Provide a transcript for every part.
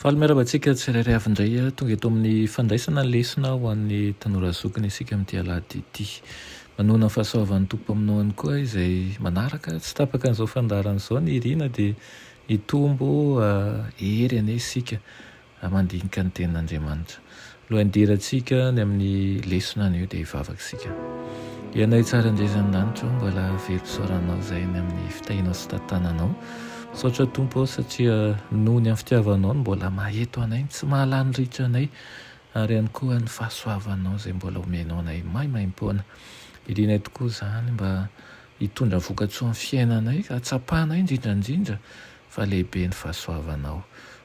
Faly miarahaba antsika tsirairay avy indray. Tonga eto amin'ny fandraisana ny lesona ho an'ny tanora zokiny isika amin'ity alahady ity. Manohana ny fahasoavan'ny Tompo Mpamonoany koa izay manaraka tsy tapaka an'izao fandaharana izao ny irina dia hitombo hery anie isika mandinika ny tenin'Andriamanitra. Lohandirantsika ny amin'ny lesona anio dia hivavaka isika. Ry Anay tsara indray izany lanitra ô, mbola very fisaoranao izay ny amin'ny fitahianao sy fitantananao. Misaotra Tompo aho satria noho ny amin'ny fitiavanao no mbola maheto anay, ny tsy mahalany ritra anay, ary ihany koa ny fahasoavanao izay mbola omenao anay maimaimpoana. Irinay tokoa izany mba hitondra vokatsoa amin'ny fiainanay, ka hatsapanay indrindra indrindra fa lehibe ny fahasoavanao.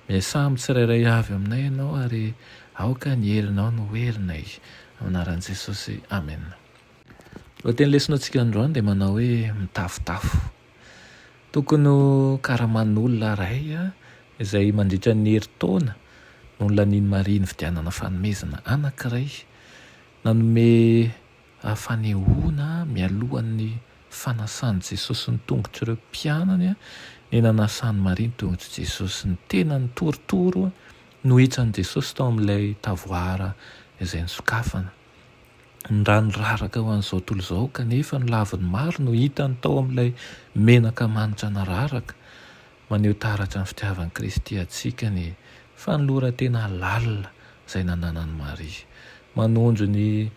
Miasà amin'ny tsirairay avy aminay Ianao ary aoka ny herinao no ho herinay. Amin'ny anaran'i Jesosy, amena. Ny lohateny lesonatsika androany dia manao hoe mitafotafo. Tokony ho karaman'olona iray izay mandritra ny herintaona no nolanian'i Maria nividianana fanomezana anankiray nanome ary fanehoana mialohan'ny fanasan'i Jesosy ny tongotr'ireo mpianany ny nanasan'i Maria ny tongotr'i Jesosy. Ny tenany torotoro nohitsan'i Jesosy tao amin'ilay tavoara izay nosokafana. Ny ra niraraka ho an'izao tontolo izao kanefa ny laviny maro no hitany tao amin'ilay menaka manitra nararaka. Maneho taratra ny fitiavan'i Kristy antsika ny fanoloran-tena lalina izay nananan'i Maria. Manondro ny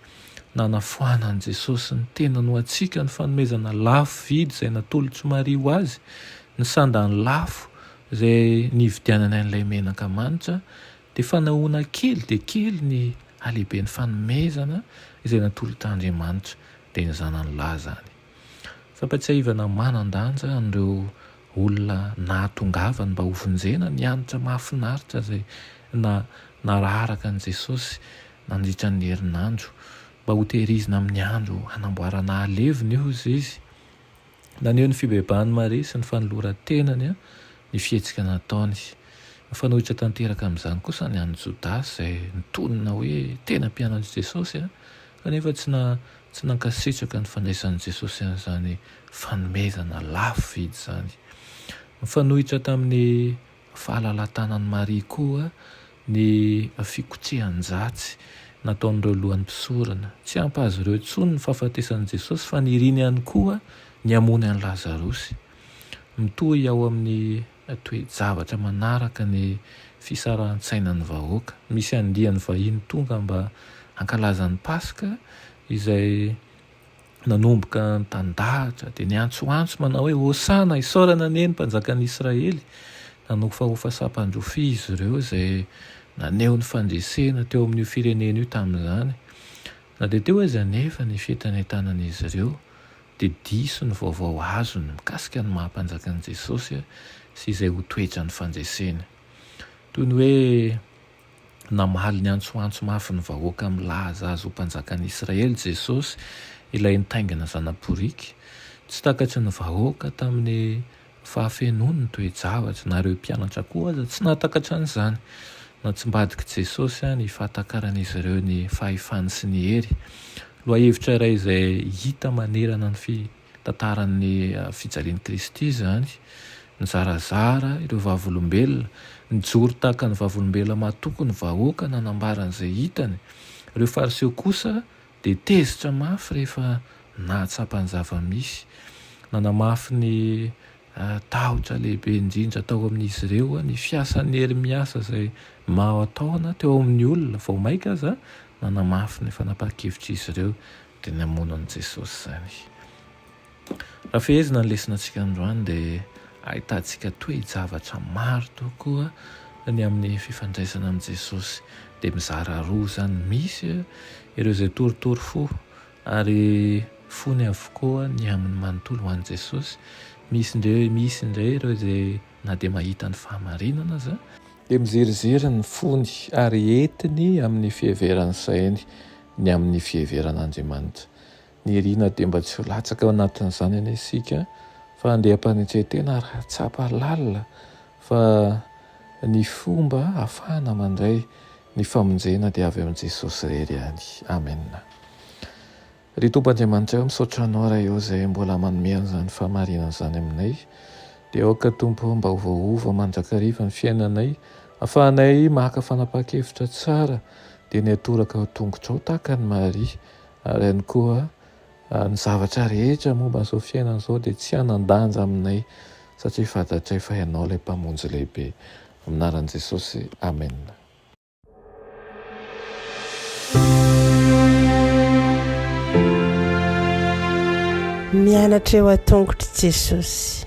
nanafoanan'i Jesosy ny tenany ho antsika ny fanomezana lafo vidy izay natolotr'i Maria ho azy, ny sandany lafo izay nividianany an'ilay menaka manitra, dia fanehoana kely dia kely ny halehiben'ny fanomezana izay natolotr'Andriamanitra dia ny Zanany lahy izany. Fampatsiahivana manan-danja an'ireo olona nahatongavany mba hovonjena ny hanitra mahafinaritra izay nararaka an'i Jesosy nandritra ny herinandro. Mba hotehirizina amin'ny andro hanamboarana haleviny, hoy izy. Naneho ny fibebahan'i Maria sy ny fanoloran-tenany ny fihetsika nataony. Mifanohitra tanteraka amin'izany kosa ny an'i Jodasy izay nitonona hoe tena mpianatr'i Jesosy. Kanefa tsy na tsy nankasitraka ny fandraisan'i Jesosy an'izany fanomezana lafo vidy izany. Mifanohitra tamin'ny fahalalatanan'i Maria koa ny fikotrehan-jatsy nataon'ireo lohan'ny mpisorona. Tsy ampy azy ireo intsony ny fahafatesan'i Jesosy fa niriny ihany koa ny hamoany an'i Lazarosy. Mitohy ao amin'ny toe-javatra manaraka ny fisarahantsainan'ny vahoaka. Misy andiany vahiny tonga mba hankalaza ny Paska izay nanomboka nitandahatra dia niantsoantso manao hoe, Hosana, isaorana anie ny Mpanjakan'i Israely. Nanofahofa sampan-drofia izy ireo izay naneho ny fandresena teo amin'io firenena io tamin'izany. Na dia teo aza anefa ny fientanentanan'izy ireo, dia diso ny vaovao azony mikasika ny maha-Mpanjaka an'i Jesosy sy izay ho toetran'ny fandreseny. Toy ny hoe namaly niantsoantso mafy ny vahoaka milaza azy ho Mpanjakan'ny Israely Jesosy, ilay nitaingina zana-boriky tsy takatry ny vahoaka tamin'ny. Fa feno ny toe-javatra. Na ireo mpianatra koa aza tsy nahatakatra an'izany. Natsimbadik'i Jesosy ny fahatakaran'izy ireo ny fahefany sy ny hery. Lohahevitra iray izay hita manerana ny fitantaran'ny fijalian'i Kristy izany. Nizarazara ireo vavolombelona. Nijoro tahaka ny vavolombelona matoky ny vahoaka nanambara an'izay hitany. Ireo Fariseo kosa. Dia tezitra mafy rehefa nahatsapa ny zava-misy. Nanamafy ny tahotra lehibe indrindra tao amin'izy ireo ny fiasan'ny hery miasa izay mahataona teo amin'ny olona. Vao mainka aza nanamafy ny fanapahan-kevitr'izy ireo, dia namono an'i Jesosy izany. Raha fehezina ny lesonatsika androany dia ahitantsika toe-javatra maro tokoa ny amin'ny fifandraisana amin'i Jesosy. Dia mizara roa izany, misy ireo izay torotoro fo ary fony avokoa ny aminy manontolo ho an'i Jesosy, misy indray misy indray ireo izay na dia mahita ny fahamarinana aza, dia miziriziry ny fony ary entiny amin'ny fiheveran'ny sainy ny amin'ny fiheveran'Andriamanitra. Nirinà dia mba tsy ho latsaka ao anatin'izany anie isika fa andeha hampanetren-tena ary hahatsapa lalina fa ny fomba hahafahana mandray ny famonjena dia avy amin'i Jesosy irery ihany. Amen. Ry Tompo Andriamanitra o, misaotra Anao Ray o izay mbola manome an'izany fahamarinana izany aminay. Dia aoka Tompo o, mba ho voaova mandrakariva ny fiainanay, hahafahanay maka fanapahan-kevitra tsara dia ny hatoraka ho tongotrao tahaka an'i Maria, Ary ihany koa, ny zavatra rehetra momba an'izao fiainana izao dia tsy hanan-danja aminay, satria fantatray fa Ianao ilay Mpamonjy lehibe. Amin'ny anaran'i Jesosy, amena. Mianatra eo an-tongotr'i Jesosy.